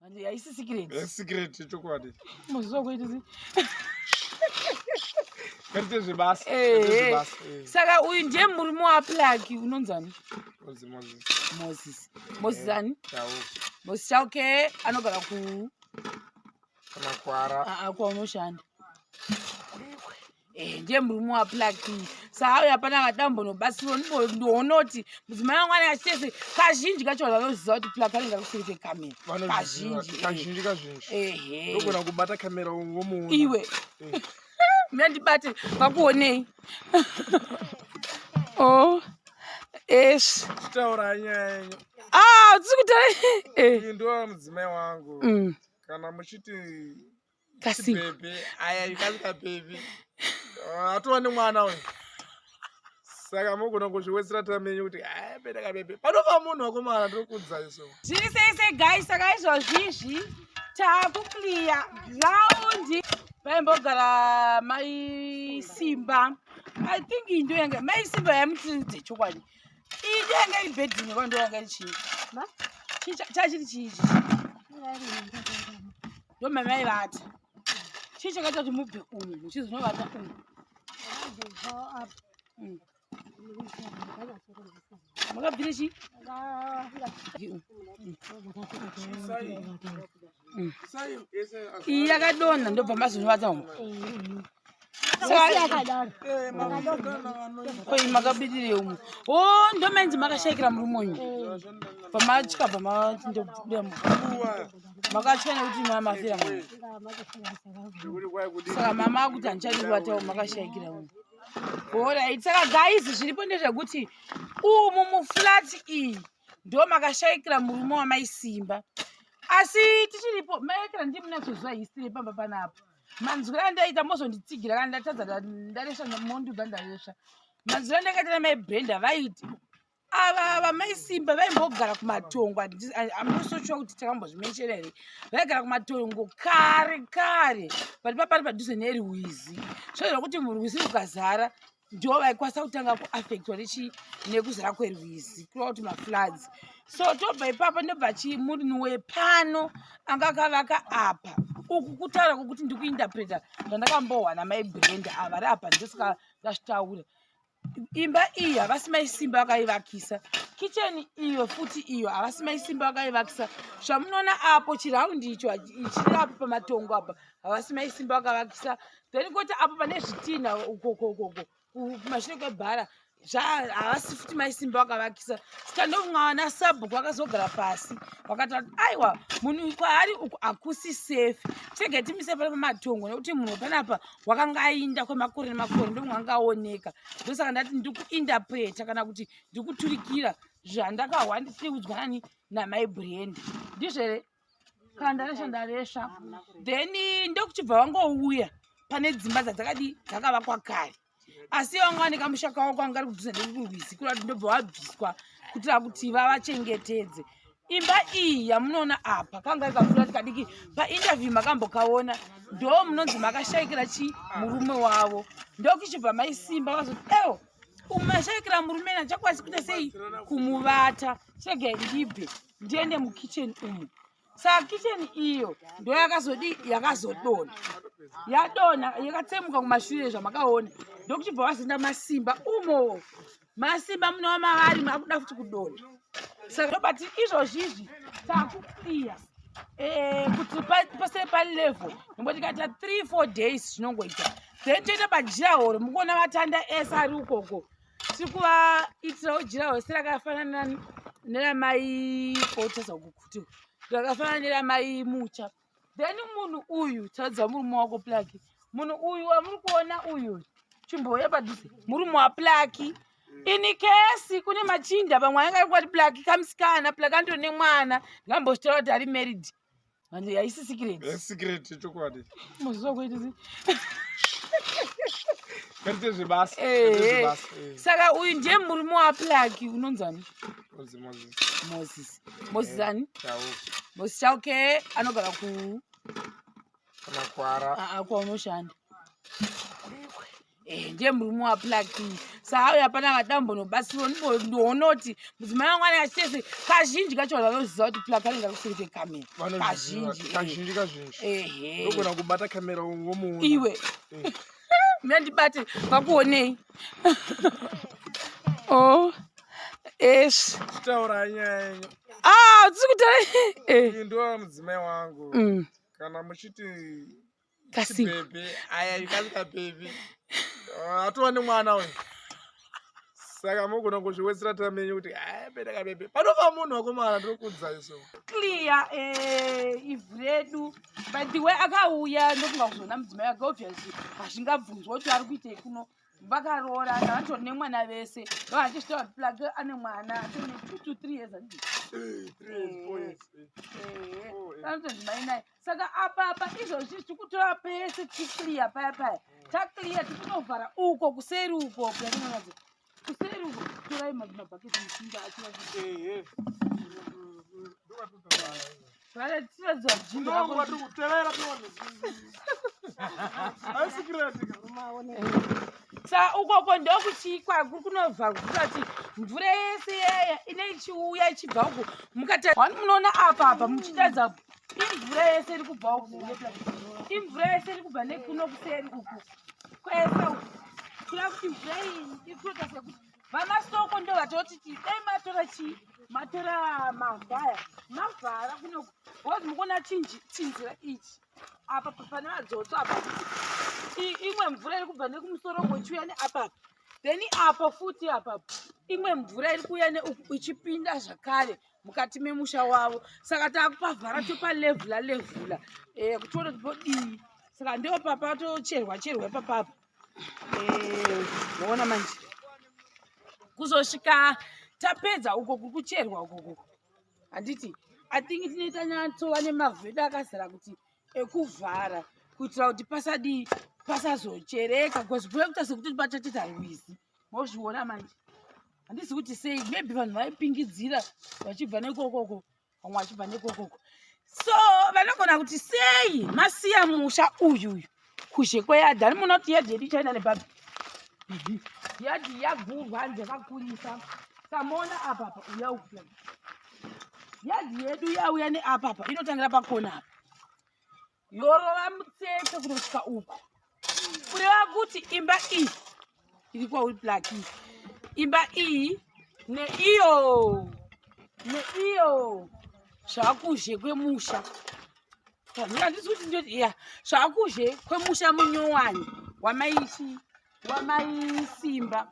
Andi haisi secret. Yes, secret chokwadi. Muziva kuita zi. Kati zvebasa. Eh. eh. Saka uyu ndiye murume wa plug unonzani? Moses Moses. Moses. Moses eh, ani? Chau. Moses Chau ke anogara ku kana kwara. Ah, ah kwaunoshanda. Eh, ndiye murume waplaki saauyo hapana vadambonobatsirwa ndonoti mudzimai wangu ane achitese kazhinji kacho vanhu vanoziva kuti plaki anenge akusiri kwekamera kazhinjikazhinji kazhinjigona eh. kubata kamera womuona iwe eh. mna ndibate vakuonei o oh, es taura nyaya yenyu ah, a tisi kutaura ndoa mudzimai wangu mm. kana muchiti kasibebe aya ikasika bebe ah, atova nemwana uyu saka mogona kuzviwedzera tamenyu kuti abereka bebe panova munhu wakomana tokudza iso zviri seise gai saka izvozvizvi takukliya graundi vaimbogara mai simba i think iyi ndo yanga mai simba yamutiridze chokwadi iyi ndo yanga iri bedini kwando yanga iri chii chachiri chii chii ndomamaivata chii chakaita kuti mubve umu muchizonovata umu mm. makabvire chii mm. yakadonha ndobva mazonovata umu koi makabidire umwe o oh, ndomenzi makashaikira murume uyu pamatya pamandobuda makatya nekuti mamafira saka mama akuti handichadibatawo makashaikira umwe orit saka guys zviripo ndezvekuti umu muflat iyi ndo makashaikira murume wamaisimba asi tichiripo maekera ndimunachoziva hisiri pamba panapa manzwira andaita mozonditsigira kana ndatadza ndaresva mondibva ndaresva manzwira andakaita namai brenda vaiti ava vamai simba vaimbogara kumatongo amusotshuwa kuti takambozvimenshera here vaigara kumatongo kare kare pati papari padhuze neruwizi zvozoa kuti murwizi rukazara ndiwo vaikwanisa kutanga kuaffectwa nechi nekuzara kwerwizi kureva kuti mafloods so tobva ipapo ndobva chii murinhu wepano anga akavaka apa uku kutaura kwokuti ndikuinterpreta zvandakambowana mai brenda ava ri apa ndosaka ndazvitaura imba iyi havasi maisimba vakaivakisa kicheni iyo futi iyo havasi maisimba vakaivakisa zvamunoona apo chiraundi icho chiri apo pamatongo apa havasi maisimba vakavakisa then koti apo pane zvitinha ukokokoko kumashure kwebhara havasi futi maisimba vakavakisa saka ndofunga vana sabhuku vakazogara pasi vakataura kuti aiwa munhu kwaari uku hakusi safe tege timise pane pamatongo nekuti munhu panapa wakanga ainda kwemakore nemakore ndofunga anga aoneka ndosaka ndati ndikuindapreta kana kuti ndikuturikira zvandakahwa ndisiudzwa nani namai brand ndizvere kana ndaresva ndaresva then ndokuchibva vangouya pane dzimba dzadzakadi dzakavakwa kare asi vanga vane kamusha kavo kwanga ari kudhuza nekukurwizi kura kuti ndobva wabviswa kutira kuti vavachengetedze imba iyi yamunoona apa kanga ikakura tikadiki painterview makambokaona ndo munonzi makashaikira chi murume wavo ndokuchibva maisimba vazoti ewo umashayikira murume nachakwasi kuita sei kumuvata chega ndibve ndiende mukitchen umu saka kitchen iyo ndo yakazodi yakazodona yadona yakatsemuka kumashure zvamakaona ndokuchibva wazinda masimba umo masimba munowa mavari makuda futi kudona saka ndobati izvozvi izvi takukliya eh, kuti pasere palevel nomboti kaita three four days zvinongoita then toita pajira horo mukuona vatanda ese ari ukoko tiri kuvaitirawo jira hose rakafanana neramai kotaza kukuti rakafanana neramai mucha then munhu uyu taridza murume wako plaki munhu uyu wamuri kuona uyu chimbouya padhuze murume waplaki ini kesi kune machinda pamwe ange arikwati plaki kamusikana plaki andiro nemwana ndikambozvitaura kuti ari married Manje haisi secret. Yes, eh, secret chokwadi. Muziva kuita sei? Kaite zvebasa. Eh. eh. Saka uyu ndiye murume waplaki unonzani? Moses. Moses. Moses eh, ani? Chauke. Moses Chauke anogara ku kana kwara. Ah, ah kwaunoshanda. Eh, ndiye murume waplaki saauyo hapana vadambonobatsirwa ndonoti mudzimai wangu anenge achitese kazhinji kacho vanhu vanoziva kuti plaki anenge akusiri kwekamera kazhinjiagona eh. kubata kamera womuona iwe eh. mna ndibate vakuonei o oh, es taura nyaya yenyu ah tiri kutaura ndoa mudzimai wangu mm. kana muchiti kasi baby aya kasi ka baby ah, atova nemwana uyu saka mogona kuzviwedzera time yenyu kuti aya beda ka baby panova munhu wakomana ndokudza iso clear eh ivu redu but the way akauya ndokunga kuzoona mudzimai wake obviously hazvingabvunzwa kuti ari kuitei kuno vakaroora navatori nemwana vese vavachishita vati plake ane mwana atone two to three years eh, eh, eh, anotozimai naye saka apa apa izvozvi tikutora pese ticlear paya paya taclear tikutovhara uko kuseri uko kuainaadzi kuseri uko torai mabhaketi musinga achia sa ukoko ndokuchikwa kuri kunobva kukati mvura yese yaya ine ichiuya ichibva uko mukati munoona apa apa muchitaridza imvura yese iri kubva uku imvura yese iri kubva nekuno kuseri uku kwese uku kuya kuti mvura iyi iri kuita sekuti vamasoko ndo vatoti ti dai matora chii matora mavhaya mavhara kuno wozi mukuona chinjira ichi apa pane vadzotso apa imwe mvura iri kubva nekumusoro kwechiuya neapapa then apo futi apapo imwe mvura iri kuuya neuku ichipinda zvakare mukati memusha wavo saka takupavhara topalevhula levhula eh, kuti tione kuti vodii saka ndo papa tocherwa cherwa ipapapa eh, moona manje kuzosvika tapedza uko kukucherwa ukoko handiti i think tinoita nyatsova nemavhu edu akazara kuti ekuvhara kuitira kuti pasadii pasazochereka bcause kuve kuita sekuti pachachita rwizi mozviona manje handisi kuti sei maybe vanhu vaipingidzira vachibva nekokoko vamwe vachibva nekokoko so vanogona kuti sei masiya musha uyu uyu kuzhe kweyadhi ani muona kuti yadhi yedu ichaenda nebabi yadhi yagurwa hanzi yakakurisa samona apapa uya uya yadhi yedu yauya neapapa inotangira pakona apa yorova mutsetse kunosvika uku kureva kuti imba iyi iri kwauri black iyi imba iyi neiyo neiyo zvakuzhe kwemusha handisi kuti ndoti ya zvakuzhe kwemusha munyowani wamaichi wamaisimba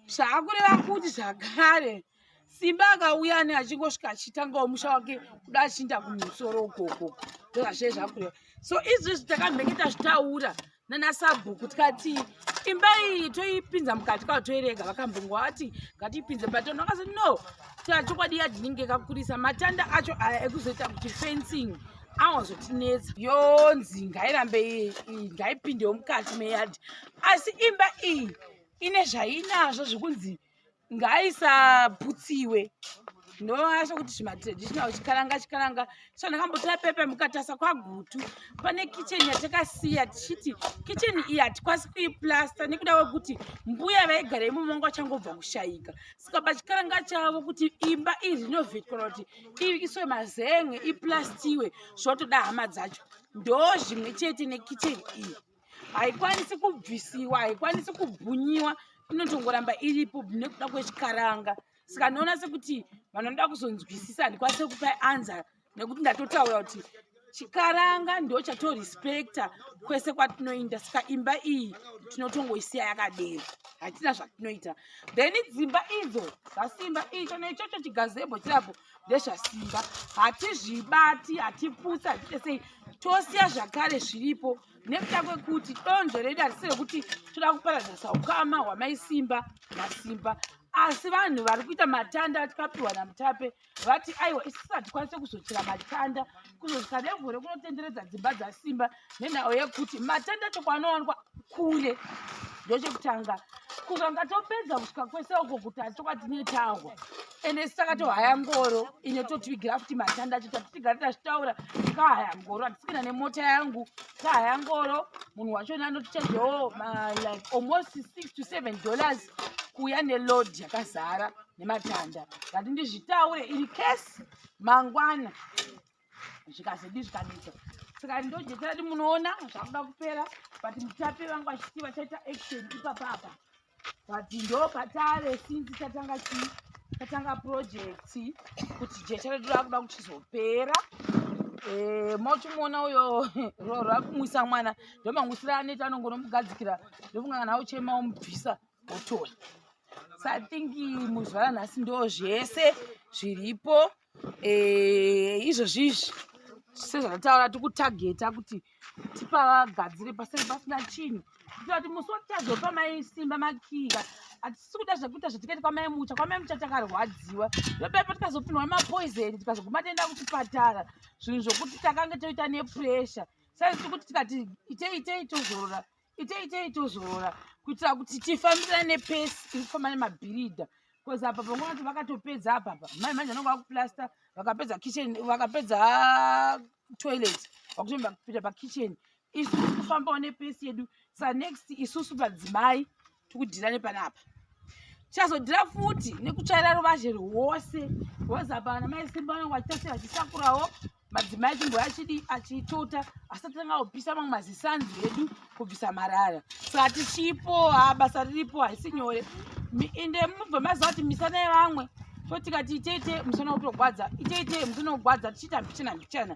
zvakureva kuti zvakare simba akauya ani achingosvika achitangawo musha wake kuda achinda kumusoro ukoko ndozvazve zvakuya so izvezvi takamhenge tazvitaura nanasabhuku tikati imba iyi toipinza mukati kwavo toirega vakambongo vati ngatiipinze batono akazi no tachokwadi yadinenge kakurisa matanda acho aya ekuzoita kuti fencing awazotinetsa yonzi ngairambe ngaipindewo mukati meyadhi asi imba iyi ine zvainazvo zvekunzi ngaisaputsiwe ndoona sokuti zvimatraditional chikaranga chikaranga so ndakambotora pepe mukatasa kwagutu pane kicheni yatakasiya tichiti kicheni iyi hatikwasi kuiplasta nekuda kwekuti mbuya vaigara imomo vanga vachangobva kushayika saka pachikaranga chavo kuti imba iyi rinovheti kana kuti iiswe mazenge iplastiwe zvotoda hama dzacho ndo zvimwe chete nekicheni iyi haikwanisi kubvisiwa haikwanisi kubhunyiwa inotongoramba iripo nekuda kwechikaranga saka ndinoona sekuti vanoda kuzonzwisisa handikwanise kupa anza nekuti ndatotaura kuti chikaranga ndo chatorespecta kwese kwatinoinda saka imba iyi tinotongoisiya yakadero hatina zvatinoita then dzimba idzo dzasimba icho neichocho chigazebo chirapo ndezvasimba hatizvibati hatiputsi hatite sei tosiya zvakare zviripo nekuda kwekuti donzvo redu harisi rekuti toda kuparadza saukama hwamai simba nasimba asi vanhu vari kuita matanda atikapiwa namutape vati aiwa isusu hatikwanise kuzochera matanda kuzosika nevhu rekunotenderedza dzimba dzasimba nenhau yekuti matenda choko anowanikwa kure ndochekutanga kukanga topedza kusvika kwese uko kuti atoka tine tahwa ende saka tohaya ngoro ine totivigira kuti matanda acho tatitigare tachitaura kahaya ngoro atisikina nemota yangu kahaya ngoro munhu wacho ne anotichajewo like almost six to seven dollars kuuya neload yakazara nematanda ngati ndizvitaure in case mangwana zvikazodii zvikanetsa saka ndojeterati munoona zvakuda kupera but mutape vangu vachiti vachaita action ipapa apa but ndo patave sinzi tatanga chii tatanga project kuti jeterati rakuda kuchizopera eh, mochimuona uyo rorwa kumwisa mwana ndomangwisira aneti anongonomugadzikira ndofunga kana uchema umubvisa otoya so i think muzvara nhasi ndo zvese zviripo eh, izvozvi izvi sezvatataura tikutageta kuti tipavagadzire pasei pasina chinhu kuitira kuti musi watichazopa mai simba makiya hatisi kuda zvekuita zvatikaita kwamai mucha kwamai mucha takarwadziwa ndopepo tikazopinwa mapoisoni tikazoguma toenda kuchipatara zvinhu zvokuti takange toita nepressure saiziti kuti tikati itei itei tozorora itei itei tozorora kuitira kuti tifambirane pesi tiri kufamba nemabhiridha bcause apa panguva kuti vakatopedza apapa mai manje vanonga vakuplasta vakapedza kitchen vakapedza toilet vakutoenda kupinda pakitchen isu tiri kufambawo nepesi yedu sanext isusu padzimai tikudhira nepanapa tichazodhira futi nekutsvaira ruvazhe rwose rwose apa ana mai simba vanenge vachitase vachisakurawo madzimai chimbo achidi achitota asatanga kupisa mamwe mazisanzi edu kubvisa marara saka tichipo ha basa riripo haisi nyore ende mubva maziva kuti misana yevamwe totikati iteite musana kutogwadza iteite musana kugwadza tichiita mbichana mbichana